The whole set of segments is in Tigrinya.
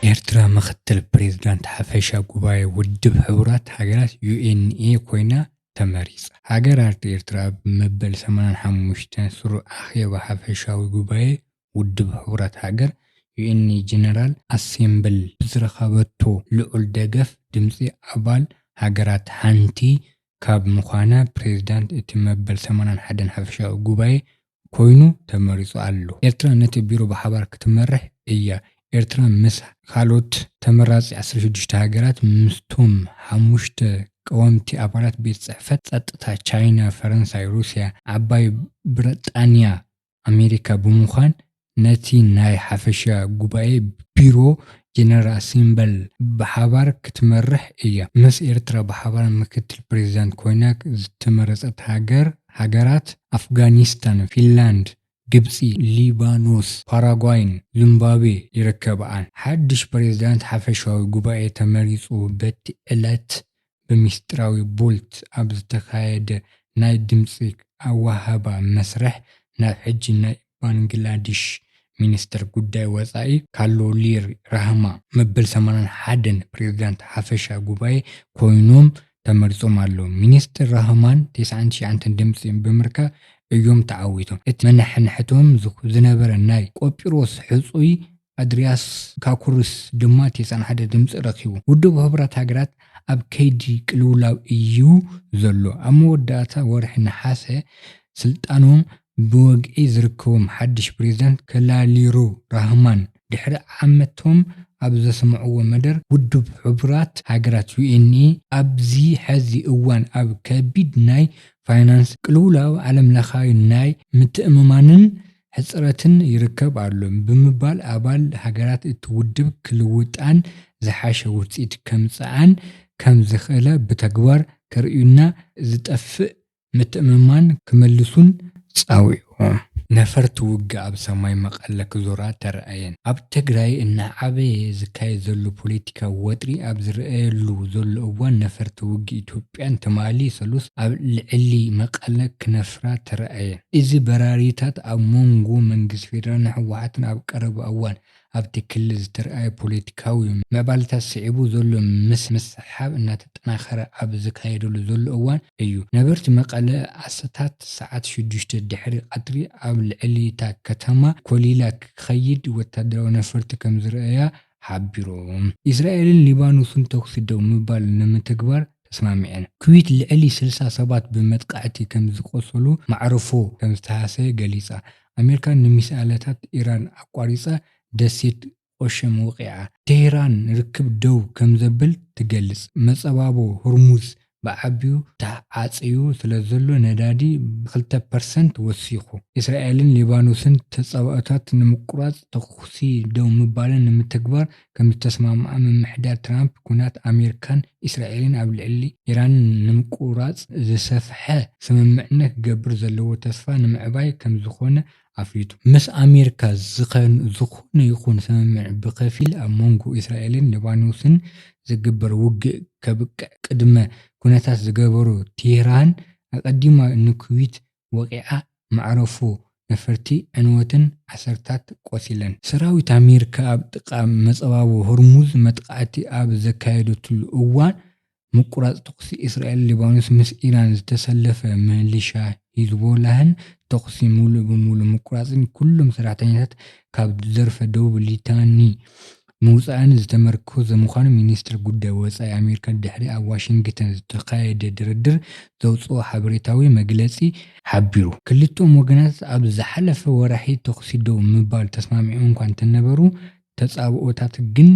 ኤርትራ ምኽትል ፕሬዝዳንት ሓፈሻ ጉባኤ ውድብ ሕቡራት ሃገራት፣ UNA፣ ኮይና ተመሪጻ። ሃገራት ኤርትራ ኣብ መበል ሰማንያን ሓሙሽተን ስሩዕ ኣኼባ ሓፈሻዊ ጉባኤ ውድብ ሕቡራት ሃገር፣ UN፣ ን ጀነራል ኣሴምብል ብዝረኸበቶ ልዑል ደገፍ ድምጺ ኣባል ሃገራት ሓንቲ ካብ ምዃና ፕሬዚዳንት እቲ መበል ሰማንያን ሓደን ሓፈሻዊ ጉባኤ ኮይኑ ተመሪጹ ኣሎ። ኤርትራ ነቲ ቢሮ ብሓባር ክትመርሕ እያ። ኤርትራ ምስ ካልኦት ተመራጺ ዓሰርተ ሽዱሽተ ሃገራት፣ ምስቶም ሓሙሽተ ቀወምቲ ኣባላት ቤት ጽሕፈት ጸጥታ፣ ቻይና፣ ፈረንሳይ፣ ሩስያ፣ ዓባይ ብረጣንያ፣ ኣሜሪካ ብምዃን ነቲ ናይ ሓፈሻ ጉባኤ ቢሮ ጀነራል ኣሴምበል ብሓባር ክትመርሕ እያ። ምስ ኤርትራ ብሓባር ምክትል ፕሬዚዳንት ኮይና ዝተመረፀት ሃገር ሃገራት ኣፍጋኒስታን፣ ፊንላንድ፣ ግብፂ፣ ሊባኖስ፣ ፓራጓይን ዙምባቤ ይርከበኣን። ሓዱሽ ፕሬዚዳንት ሓፈሻዊ ጉባኤ ተመሪፁ በቲ ዕለት ብምስጢራዊ ቮልት ኣብ ዝተኻየደ ናይ ድምጺ ኣወሃህባ መስርሕ ናብ ሕጂ ናይ ባንግላዲሽ ሚኒስተር ጉዳይ ወጻኢ ካሎሊር ራህማ መበል ሰማንያን ሓደን ፕሬዝዳንት ሓፈሻ ጉባኤ ኮይኖም ተመሪጾም ኣለዉ። ሚኒስተር ራህማን ተስዓን ትሽዓንተን ድምጺ ብምርካብ እዮም ተዓዊቶም። እቲ መነሓንሕቶም ዝነበረ ናይ ቆጵሮስ ሕጹይ ኣድርያስ ካኩርስ ድማ ቴሳን ሓደ ድምጺ ረኺቡ። ውድብ ሕቡራት ሃገራት ኣብ ከይዲ ቅልውላው እዩ ዘሎ። ኣብ መወዳእታ ወርሒ ነሓሰ ስልጣኖም ብወግዒ ዝርከቦም ሓድሽ ፕሬዚዳንት ከላሊሩ ራህማን ድሕሪ ዓመቶም ኣብ ዘስምዕዎ መደር ውድብ ሕቡራት ሃገራት፣ ዩኤንኤ፣ ኣብዚ ሐዚ እዋን ኣብ ከቢድ ናይ ፋይናንስ ቅልውላው ዓለምለኻዊ ናይ ምትእምማንን ሕፅረትን ይርከብ ኣሎ ብምባል ኣባል ሃገራት እቲ ውድብ ክልውጣን ዝሓሸ ውፅኢት ከምፅኣን ከም ዝኽእላ ብተግባር ከርእዩና ዝጠፍእ ምትእምማን ክመልሱን ፀዊዖም። ነፈርቲ ውግእ ኣብ ሰማይ መቐለ ክዞራ ተራእየን። ኣብ ትግራይ እናዓበየ ዝካየድ ዘሎ ፖለቲካዊ ወጥሪ ኣብ ዝረኣየሉ ዘሎ እዋን ነፈርቲ ውግእ ኢትዮጵያን ትማሊ ሰሉስ ኣብ ልዕሊ መቐለ ክነፍራ ተራእየን። እዚ በራሪታት ኣብ ሞንጎ መንግስቲ ፌደራልን ህወሓትን ኣብ ቀረባ እዋን ኣብቲ ክልል ዝተርኣየ ፖለቲካዊ ምዕባለታት ስዒቡ ዘሎ ምስሕሓብ እናተጠናኸረ ኣብ ዝካየደሉ ዘሎ እዋን እዩ ነበርቲ መቐለ ኣሰታት ሰዓት ሽዱሽተ ድሕሪ ቐትሪ ኣብ ልዕሊ'ታ ከተማ ኮሊላ ክኸይድ ወታደራዊ ነፈርቲ ከምዝረኣያ ሓቢሮም። እስራኤልን ሊባኖስን ተኹሲ ደው ምባል ንምትግባር ተስማሚዐን። ኩዌት ልዕሊ ስልሳ ሰባት ብመጥቃዕቲ ከምዝቖሰሉ ማዕርፎ ከምዝተሃሰየ ገሊጻ። ኣሜሪካ ንሚሳኤላታት ኢራን ኣቋሪጻ ደሴት ቖሸም ወቒዓ። ቴህራን ርክብ ደው ከምዘብል ትገልጽ። መጸባቦ ሆርሙዝ ብዓቢኡ ተዓጽዩ ስለዘሎ ነዳዲ ብክልተ ፐርሰንት ወሲኹ። እስራኤልን ሊባኖስን ተጻብኦታት ንምቁራጽ ተኹሲ ደው ምባለን ንምትግባር ከምዝተስማምዓ ምምሕዳር ትራምፕ ኲናት ኣሜሪካን እስራኤልን ኣብ ልዕሊ ኢራን ንምቁራጽ ዝሰፍሐ ስምምዕነት ክገብር ዘለዎ ተስፋ ንምዕባይ ከምዝኾነ ኣፍሊጡ። ምስ ኣሜሪካ ዝኾነ ይኹን ስምምዕ ብከፊል ኣብ መንጎ እስራኤልን ሊባኖስን ዝግበር ውግእ ከብቅዕ ቅድመ ኩነታት ዝገበሩ ቴህራን ኣቐዲማ ንኩዌት ወቒዓ መዕርፎ ነፈርቲ ዕንወትን ዓሰርታት ቆሲለን። ሰራዊት ኣሜሪካ ኣብ ጥቓ መፃባቦ ሆርሙዝ መጥቓዕቲ ኣብ ዘካየደትሉ እዋን ምቁራጽ ተኹሲ እስራኤል ሊባኖስ ምስ ኢራን ዝተሰለፈ ምሊሻ ሂዝቦላህን ተኹሲ ምሉእ ብምሉእ ምቁራጽን ኩሎም ሰራሕተኛታት ካብ ደርፈ ደቡብ ሊታኒ ምውጻእን ዝተመርኮዘ ምዃኑ ሚኒስተር ጉዳይ ወጻኢ ኣሜሪካ ድሕሪ ኣብ ዋሽንግተን ዝተኻየደ ድርድር ዘውጽኦ ሓበሬታዊ መግለጺ ሓቢሩ። ክልቲኦም ወገናት ኣብ ዝሓለፈ ወራሒ ተኹሲ ደው ንምባል ተስማሚዖም'ኳ እንተነበሩ፣ ተጻብኦታት ግን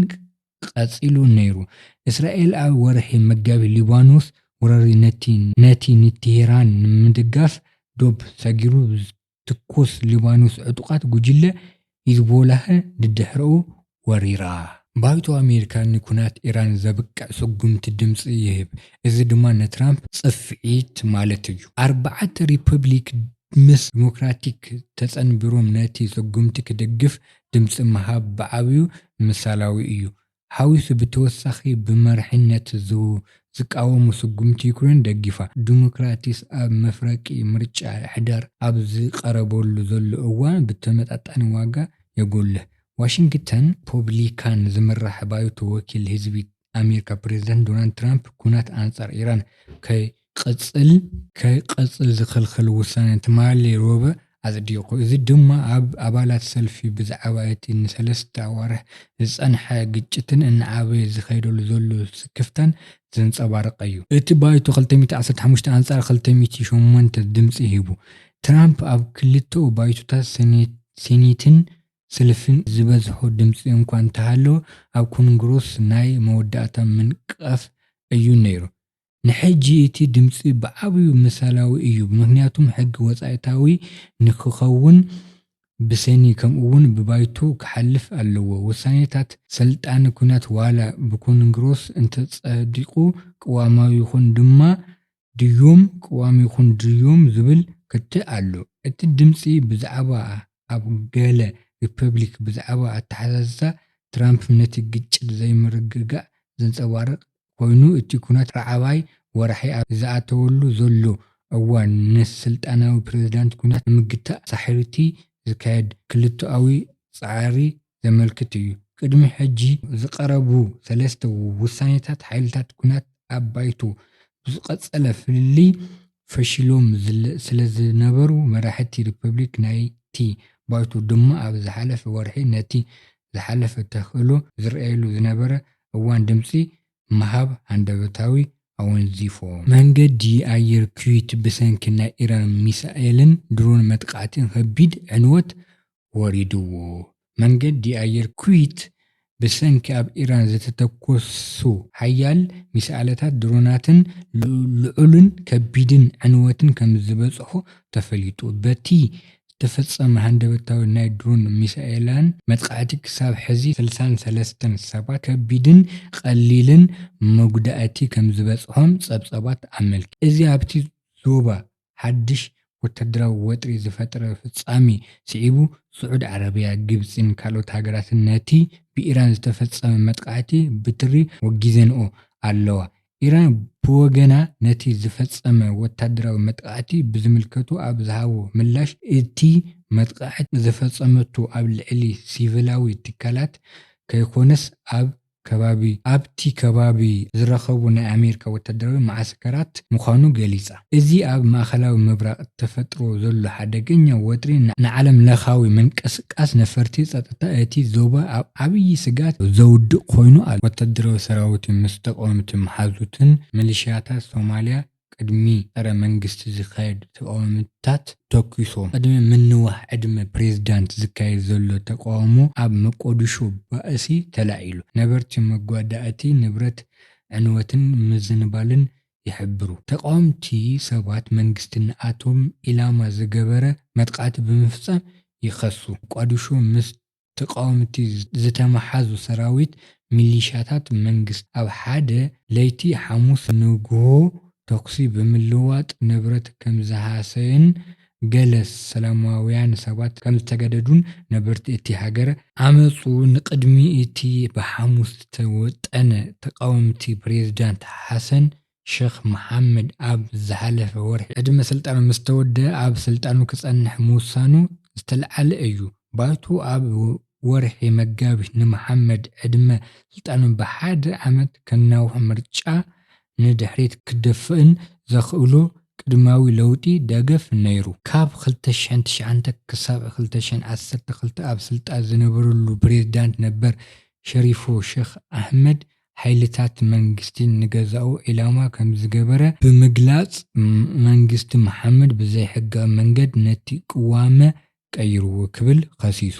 ቐጺሉ ነይሩ። እስራኤል ኣብ ወርሒ መጋቢት ሊባኖስ ወራሪ ነቲ ነቲ ንቴህራን ንምድጋፍ ዶብ ሰጊሩ ዝትኩስ ሊባኖስ ዕጡቓት ጉጅለ ሂዝቦላህ ድድሕረኡ ወሪራ። ባይቶ ኣሜሪካ ንኩናት ኢራን ዘብቅዕ ስጉምቲ ድምጺ ይህብ፣ እዚ ድማ ንትራምፕ ጽፍዒት ማለት እዩ። ኣርባዕተ ሪፐብሊክ ምስ ዲሞክራቲክ ተጸንቢሮም ነቲ ስጉምቲ ክድግፍ ድምጺ ምሃብ ብዓብዩ ምሳላዊ እዩ ሓዊሱ ብተወሳኺ ብመሪሕነት ዝቃወሙ ስጉምቲ ዩክሬን ደጊፋ። ዲሞክራትስ ኣብ መፍረቂ ምርጫ ሕዳር ኣብ ዝቐረበሉ ዘሎ እዋን ብተመጣጣኒ ዋጋ የጎልህ። ዋሽንግተን ፖብሊካን ዝምራሕ ባይቶ ወኪል ህዝቢ ኣሜሪካ ፕሬዝደንት ዶናልድ ትራምፕ ኩናት ኣንፃር ኢራን ከይቕፅል ከይቕፅል ዝኽልክል ውሳነ ትማሊ ሮብዕ ኣፅዲቑ። እዚ ድማ ኣብ ኣባላት ሰልፊ ብዛዕባ እቲ ንሰለስተ ኣዋርሕ ዝፀንሐ ግጭትን እናዓበየ ዝኸይደሉ ዘሎ ስክፍታን ዘንፀባርቐ እዩ። እቲ ባይቶ ክልተ ሚእቲ ዓሰርተ ሓሙሽተ ኣንፃር ክልተ ሚእቲ ሸሞንተ ድምፂ ሂቡ። ትራምፕ ኣብ ክልተኡ ባይቶታት ሴኔትን ስልፍን ዝበዝሖ ድምጺ እኳ እንተሃለወ፣ ኣብ ኮንግረስ ናይ መወዳእታ ምንቅቃፍ እዩ ነይሩ። ንሕጂ እቲ ድምጺ ብዓብዩ ምሳላዊ እዩ፣ ምኽንያቱም ሕጊ ወጻኢታዊ ንክኸውን ብሰኒ ከምኡ'ውን ብባይቶ ክሓልፍ ኣለዎ። ውሳኔታት ሰልጣን ኲናት ዋላ ብኮንግረስ እንተጸዲቑ ቅዋማዊ ይኹን ድማ ድዩም ቅዋም ይኹን ድዩም ዝብል ክትዕ ኣሎ። እቲ ድምጺ ብዛዕባ ኣብ ገለ ሪፐብሊክ ብዛዕባ ኣተሓሳስሳ ትራምፕ ነቲ ግጭት ዘይምርግጋእ ዘንጸባርቕ ኮይኑ እቲ ኩናት ራዓባይ ወራሒ ኣብ ዝኣተወሉ ዘሎ እዋን ንስልጣናዊ ፕረዚዳንት ኩናት ንምግታእ ሳሕርቲ ዝካየድ ክልተኣዊ ጻዕሪ ዘመልክት እዩ። ቅድሚ ሕጂ ዝቐረቡ ሰለስተ ውሳኔታት ሓይልታት ኲናት ኣብ ባይቶ ብዝቐጸለ ፍልልይ ፈሺሎም ስለዝነበሩ፣ መራሕቲ ሪፐብሊክ ናይቲ ባይቶ ድማ ኣብ ዝሓለፈ ወርሒ ነቲ ዝሓለፈ ተኽእሎ ዝርኣየሉ ዝነበረ እዋን ድምጺ ምሃብ ሃንደበታዊ ኣወንዚፎ። መንገዲ ኣየር ኲዌት ብሰንኪ ናይ ኢራን ሚሳኤልን ድሮን መጥቓዕቲ ከቢድ ዕንወት ወሪድዎ። መንገዲ ኣየር ኩዌት ብሰንኪ ኣብ ኢራን ዝተተኮሱ ሓያል ሚሳኣለታትን ድሮናትን ልዑልን ከቢድን ዕንወትን ከምዝበፅሖ ተፈሊጡ። በቲ ዝተፈፀመ ሃንደበታዊ ናይ ድሮንን ሚሳኤላን መጥቓዕቲ ክሳብ ሕዚ ስልሳን ሰለስተን ሰባት ከቢድን ቐሊልን መጉዳእቲ ከምዝበፅሖም ፀብፀባት ኣመልኪቱ። እዚ ኣብቲ ዞባ ሓድሽ ወተሃደራዊ ወጥሪ ዝፈጠረ ፍጻሜ ስዒቡ፣ ስዑድ ዓረብያ፣ ግብጺን ካልኦት ሃገራትን ነቲ ብኢራን ዝተፈጸመ መጥቓዕቲ ብትሪ ወጊዘንኦ ኣለዋ። ኢራን ብወገና ነቲ ዝፈጸመ ወተሃደራዊ መጥቓዕቲ ብዝምልከቱ ኣብ ዝሃቦ ምላሽ፣ እቲ መጥቓዕቲ ዝፈጸመቶ ኣብ ልዕሊ ሲቪላዊ ትካላት ከይኮነስ ኣብ ከባቢ ኣብቲ ከባቢ ዝረከቡ ናይ ኣሜሪካ ወታደራዊ መዓስከራት ምዃኑ ገሊጻ። እዚ ኣብ ማእከላዊ ምብራቕ ተፈጥሮ ዘሎ ሓደገኛ ወጥሪ ንዓለም ለኻዊ ምንቅስቃስ ነፈርቲ ጸጥታ እቲ ዞባ ኣብ ዓብዪ ስግኣት ዘውድቕ ኮይኑ ኣሎ። ወታደራዊ ሰራዊቱ ምስ ተቓወምቲ መሓዙትን ሚሊሽያታት ሶማልያ ቅድሚ ጸረ መንግስቲ ዝካየድ ተቃውምታት ተኩሶ ቅድሚ ምንዋሕ ዕድመ ፕሬዝዳንት ዝካየድ ዘሎ ተቃውሞ ኣብ መቆዲሾ ባእሲ ተላዒሉ ነበርቲ መጓዳእቲ ንብረት ዕንወትን ምዝንባልን ይሕብሩ። ተቃወምቲ ሰባት መንግስቲ ንኣቶም ኢላማ ዝገበረ መጥቓዕቲ ብምፍጻም ይኸሱ። ሞቃዲሾ ምስ ተቃወምቲ ዝተመሓዙ ሰራዊት ሚሊሻታት መንግስቲ ኣብ ሓደ ለይቲ ሓሙስ ንጉሆ ተኩሲ ብምልዋጥ ንብረት ከምዝሃሰዩን ገለ ሰላማውያን ሰባት ከምዝተገደዱን ነበርቲ እቲ ሃገር ዓመጹ ንቅድሚ እቲ ብሓሙስ ዝተወጠነ ተቃወምቲ ፕሬዝዳንት ሓሰን ሸኽ መሓመድ ኣብ ዝሓለፈ ወርሒ ዕድመ ስልጣኑ ምስ ተወደኣ ኣብ ስልጣኑ ክጸንሕ ምውሳኑ ዝተልዓለ እዩ። ባይቶ ኣብ ወርሒ መጋቢት ንመሓመድ ዕድመ ስልጣኑ ብሓደ ዓመት ከናውሕን ምርጫ ንድሕሪት ክደፍእን ዘኽእሎ ቅድማዊ ለውጢ ደገፍ ነይሩ። ካብ ክልተ ሽሕን ትሽዓተ ክሳብ ክልተ ሽሕን ዓሰርተ ክልተ ኣብ ስልጣን ዝነበረሉ ፕሬዝዳንት ነበር ሸሪፎ ሸኽ ኣሕመድ ሓይልታት መንግስቲ ንገዛኡ ዒላማ ከምዝገበረ ብምግላጽ፣ መንግስቲ መሓመድ ብዘይሕጋዊ መንገድ ነቲ ቅዋመ ቀይርዎ ክብል ከሲሱ።